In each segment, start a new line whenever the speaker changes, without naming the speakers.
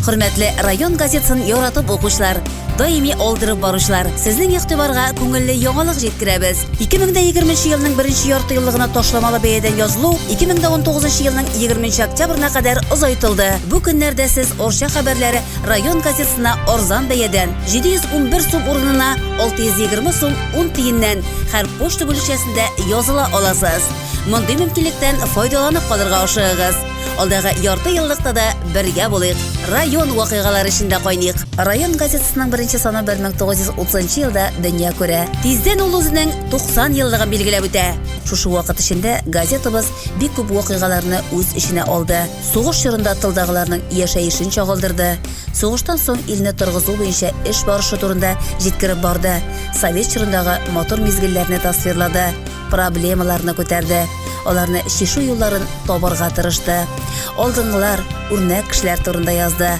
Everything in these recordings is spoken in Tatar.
Хөрмәтле район газетасын яратып укучылар, даими алдырып баручылар, сезнең игътибарга күңелле яңалык җиткерәбез. 2020 елның беренче ярты еллыгына ташламалы бәядән язылу 2019 елның 20 октябрьна кадәр озайтылды. Бу көннәрдә сез Орча хәбәрләре район газетасына арзан бәядән 711 сум урынына 620 сум 10 тиеннән һәр почта бүлекчәсендә языла аласыз. Мондый мөмкинлектән файдаланып калырга ашыгыгыз. Алдагы ярты еллыкта да бергә булыйк. Район вакыйгалары эчендә кайныйк. Район газетасының беренче саны 1930 елда дөнья күрә. Тиздән ул үзенең 90 еллыгын билгеләп үтә. Шушы вакыт эчендә газетабыз бик күп вакыйгаларны үз эченә алды. Сугыш чорында тылдагыларның яшәешен чагылдырды. Сугыштан соң илне торгызу буенча эш барышы турында җиткереп барды. Совет чорындагы матур мизгелләрне тасвирлады. проблемаларны күтәрде, аларны чишү юлларын табарга тырышты. Алдынгылар, үрнәк кешеләр турында язды.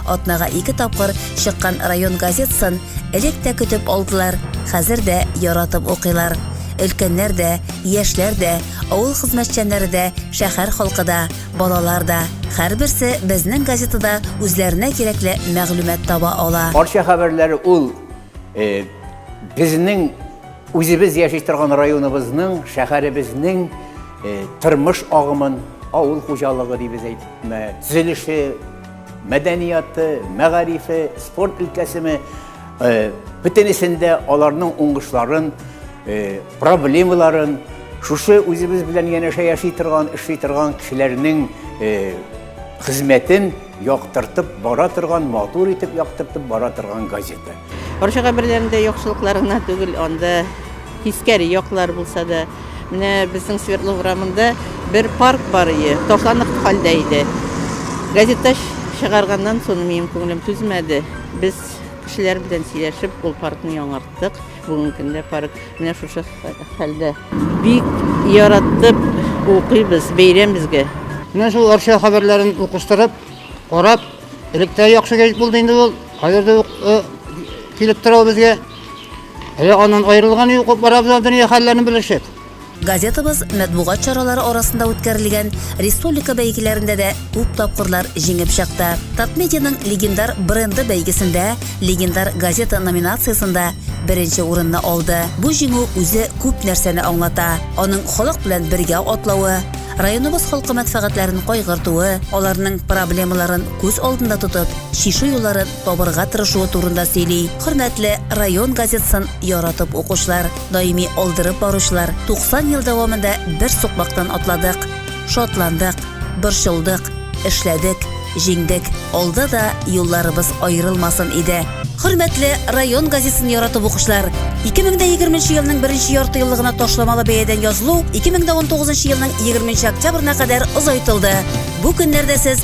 Атнага ике тапкыр чыккан район газетасын элек тә көтеп алдылар, хәзер дә яратып укыйлар. Өлкәннәр дә, яшьләр дә, авыл хезмәтчәннәре дә, шәһәр халкы да, балалар да. Һәрберсе безнең газетада үзләренә кирәкле мәгълүмат таба ала. Арча хәбәрләре
ул Э, безнең үзебез яши торган районыбызның, шәһәребезнең э, тормыш агымын, авыл хуҗалыгы дибез әйтме, төзелеше, мәдәнияты, мәгарифе, спорт өлкәсеме, э, бөтенесендә аларның уңышларын, проблемаларын шушы үзебез белән янәшә яши торган, эшли торган кешеләрнең хезмәтен Яктыртып бара торган, матур итеп яктыртып бара торган газета. Орчага берләрендә
яхшылыклар гына түгел, анда тискәре яклар булса да. Менә безнең Свердлов урамында бер парк бар ие, ташланып хәлдә иде. Газета чыгарганнан соң минем күңелем түзмәде. Без кешеләр белән сөйләшеп, ул паркны яңарттык. Бүгенге көндә парк менә шушы хәлдә. Бик яраттып укыйбыз бәйрәм безгә. Менә шул Арча
хәбәрләрен укыштырып, карап, электә яхшы гәҗит булды инде ул. Хәзер дә э, килеп тора безгә. Әле аннан аерылган юк, барабыз дөнья хәлләрен белешеп. Газетабыз
мәтбугат чаралары арасында үткәрелгән республика бәйгеләрендә дә күп тапкырлар җиңеп чыкты. Татмедианың легендар бренды бәйгесендә легендар газета номинациясендә беренче урынны алды. Бу җиңү үзе күп нәрсәне аңлата. Аның халык белән бергә атлавы, районыбыз халкы мәнфәгатьләрен кайгыртуы, аларның проблемаларын күз алдында тотып, чишү юлларын табырга тырышуы турында сөйли. Хөрмәтле район газетасын яратып укучылар! Даими алдырып баручылар 90 ел дәвамында бер сукмактан атладык. Шатландык, борчылдык, эшләдек, җиңдек. Алда да юлларыбыз аерылмасын иде. Хөрмәтле район газетын яратып укучылар, 2020 елның беренче ярты еллыгына ташламалы бәядән язылу 2019 елның 20 октябрына кадәр озайтылды. Бу көннәрдә сез